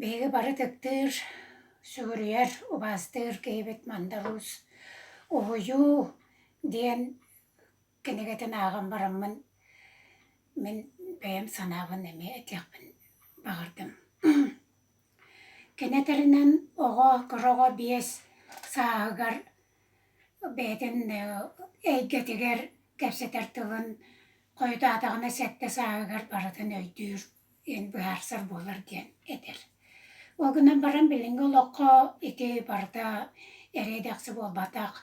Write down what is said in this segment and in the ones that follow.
Биһиги бары тыктыыр, сүгүрүйэр, убаастыыр киһибит Мандалуус «Уһуйуу» диэн кинигэтин ааҕан бараммын мин бэйэм санаабын эмиэ этиэхпин баҕардым. Кини этэринэн оҕо кыраҕа биэс сааһыгар бэйэтин эйгэтигэр кэпсэтэр тылын хойутаатаҕына сэттэ сааһыгар барытын өйдүүр диэн быһаарсар буолар диэн этэр. Ол гынан баран билиҥҥи олоххо ити барыта эрэйдэхси буолбатах.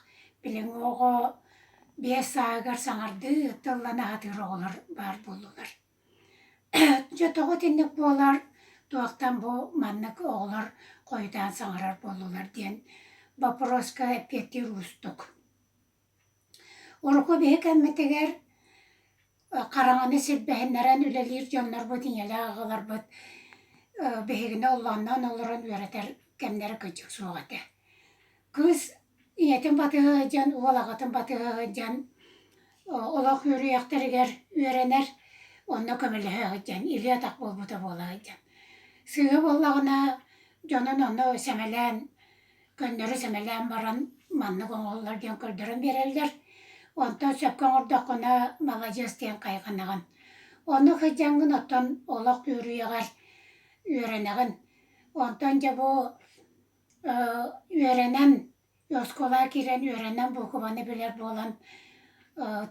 Билиҥҥи оҕо биэс сааһыгар саҥардыы тылланы аһатыыр оҕолор баар буоллулар. Дьэ тоҕо итинник буолар, туохтан бу маннык оҕолор хойутаан саҥарар буоллулар диэн боппуруоска эппиэттиир уустук. Урукку биһи кэммитигэр хараҥаны сирбэһиннэрэн үлэлиир дьоннорбут, ийэлээх аҕаларбыт биһигини оллоонноон олорон үөрэтэр кэмнэрэ кырдьык суох этэ. Кыыс ийэтин батыһа сылдьан, уол аҕатын батыһа сылдьан олох үөрүйэхтэригэр үөрэнэр, онно көмөлөһө сылдьан, илии-атах буолбута буола сылдьан. Сыыһа буоллаҕына дьонун онно сэмэлээн, көннөрү сэмэлээн баран маннык оҥоһуллар диэн көрдөрөн биэрэллэр. Онтон сөпкө оҥордоххуна маладьыас диэн хайҕанаҕын. Онно сылдьаҥҥын оттон олох үөрүйэҕэр үөрэнэҕин. Онтон дьэ бу үөрэнэн, оскуола киирэн үөрэнэн буукубаны билэр буолан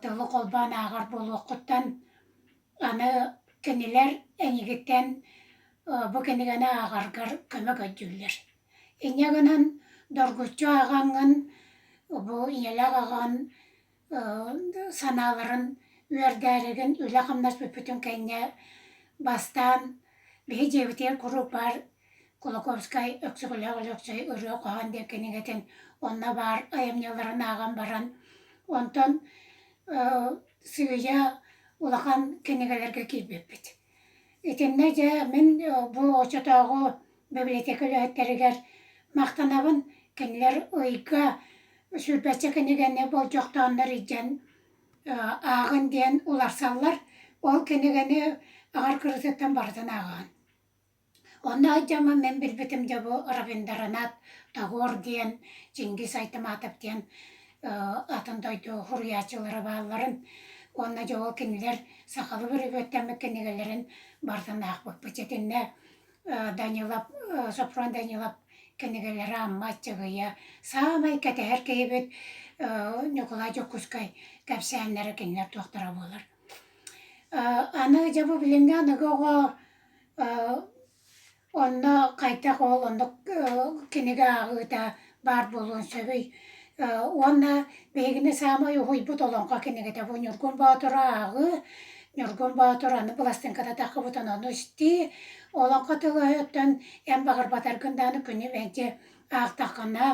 тылы холбоон ааҕар буолуоххуттан аны кинилэр эйигиттэн бу кинигэни ааҕаргар көмө көйдүүллэр. Инньэ гынан доргуччу ааҕаҥҥын бу ийэлээх аҕаҕын санааларын үөрдээригин үлэ-хамнас бүппүтүн кэннэ бастаан биһи дьиэбитигэр куруук баар Кулаковскай Өксөкүлээх Өлөксөй ырыа хоһоон диэн кинигэтин онно баар айымньыларын ааҕан баран онтон сыыйа улахан кинигэлэргэ киирбиппит Итиннэ дьэ мин бу оччотооҕу бибилэтиэкэ үлэһиттэригэр махтанабын кинилэр ыйга сүрбэччэ кинигэни болдьохтооннор илдьэн ааҕын диэн уларсаллар ол кинигэни аҕар кырыытыттан барытын ааҕаҕын Онно эр дьомо мин билбитим дьэ бу Равиндранаth Тагор диэн Чингис Айтаматов диэн атын дойду суруйааччылара баалларын уонна дьэ ол кинилэр сахалыы бүрүгүөттэммит кинигэлэрин бартан аахпыппыт итиннэ Данилов Сопрун Данилов кинигэлэрэ Амма Аччыгыйа саамай кэтэһэр киһибит Ньукулай Дьокуускай кэпсээннэрэ кинилэр туохтара буолар аны дьэ бу билиҥҥи аныгы оҕо Онно хайдах ол оннук кинигэ ааҕыыта баар буолуон сөбүй? Уонна биһигини саамай уһуйбут олоҥхо кинигэтэ бу Ньургун Боотуру ааҕыы. Ньургун Боотур аны быластыҥката таххыбытын ону истии. Олоҥхо тылыттан эн баҕарбатаргын даҕаны күнү мэлдьи аахтаххына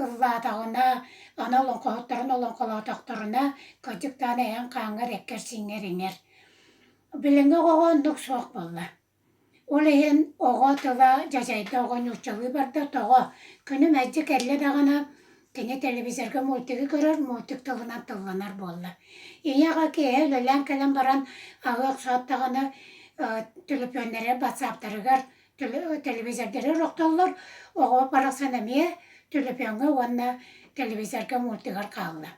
ыллаатаҕына аны олоҥхоһуттарын олоҥхолоотохторуна кырдьык даҕаны эйэҥ хааҥҥар эккэр-сииҥҥэр иҥэр. Билиҥҥи оҕоҕо оннук суох буолла. Ол иһин оҕо тыла дьадьайда, оҕо нууччалыы барда, тоҕо? Күнү мэлдьи кэллэ даҕаны кини телевизорга мультигы көрөр, мультик тылынан тылланар буолла. Ийэ аҕа киэһэ үлэлээн кэлэн баран аҕа охсоот даҕаны төлөпүөннэригэр, батсааптарыгар телевизордары охтоллор, оҕо барахсан эмиэ төлөпүөҥҥэ уонна телевизорга, мультигар хаалла.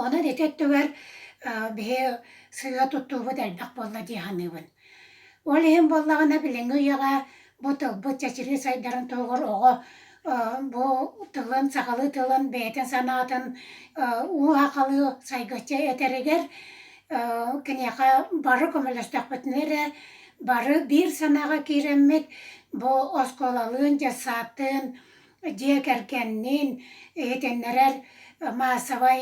Онон ити өттүгэр биһи сыһыа туттуубут элбэх буолла дии саныыбын. Ол иһин буоллаҕына билиҥҥи үйэҕэ бу тылбыт чэчирии сайдарын туһугар оҕо бу тылын, сахалыы тылын бэйэтин санаатын уу аахалыы сайгыччы этэригэр киниэхэ бары көмөлөстөхпүтүнэ эрэ бары биир санааҕа киирэммит бу оскуолалыын, детсадтыын дьиэ кэргэнниин иһитиннэрэр маассабай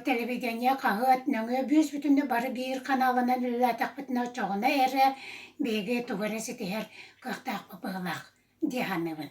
телевидение хаһыат нөҥүө бүүс бүтүннүү бары биир ханаалынан үлэлээтэхпитинэ оччоҕуна эрэ биһиги тугу эрэ ситиһэр кыахтаахпыт быһыылаах дии саныыбын